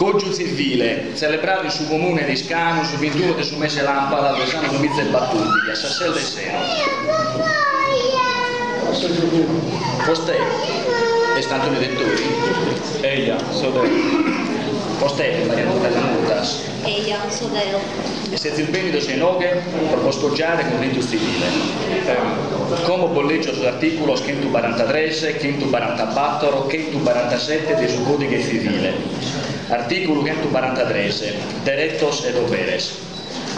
Cògiu tzivile, tzelebradu in su comune de Iscanu su bintunu de su mese de làmpadas de s'annu duamiza e batòrdighi a sas ses de sero. Eia, so deo. E sezis bènidos a inoghe pro bos cogiare cun ritu tzivile, como bos lègio sos artìculos chentu barantatres, chentu barantabator, chentu barantasete de su Còdighe Tzivile. Artìculu chentu barantatres, deretos e doberes.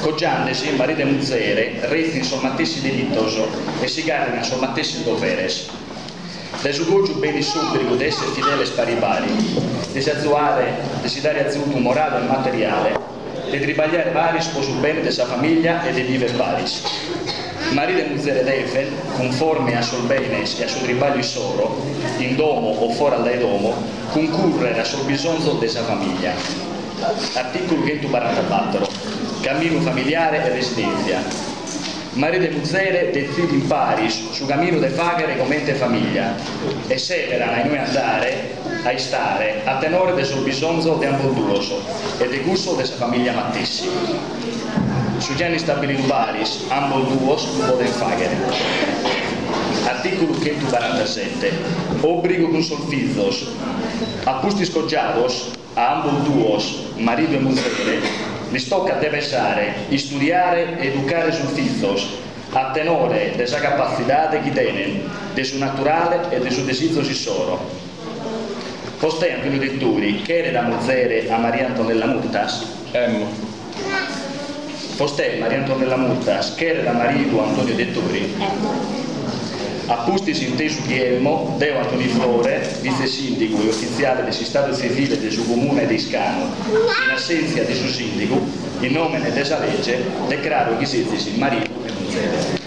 Cogiande si maridu e muzere retzint sos matessi deretos e si gàrriant sos matessi doberes. Dae su cògiu benit s'òbrigu de èssere fideles pari pari, de si azuare, de si dare azudu morale e materiale, de tribagliare paris pro su bene de sa famìllia e de biver paris. Maridu e muzere deven, cunforme a sos benes e a su tribagliu issoro, in domo o foras dae domo, cuncùrrere a sos bisonzos de sa famìllia. Artìculu chentu barantabator. Caminu familiare e residèntzia. Maridu e muzere detzidin paris su caminu de faghere comente famiglia e seberan a inue andare a istare a tenore de sos bisonzos de ambos duos e de cussos de sa famiglia matessi. Su chi an istabilidu paris ambos duos lu podent faghere. Articulu chentu barantasette, Obrigu cun sos fizos. A pustis cogiados. A ambos duos, maridu e muzere, lis tocat de pesare, istudiare e educare sos fizos a tenore de sa capatzidade chi tenen, de su naturale e de sos desizos issoro. Bostè Antoniu Dettori cheret a muzere a Maria Antonella Murtas? Emmo. Bostè Maria Antonella Murtas cheret a maridu Antonio Dettori, a pustis intesu chi emmo deo Antoni Flore, vitzesìndigu e ufitziale de s'istadu tzivile de su Comune de Iscanu, in assèntzia de su sìndigu, in nòmene de sa lege, decraro chi sezis maridu e muzere.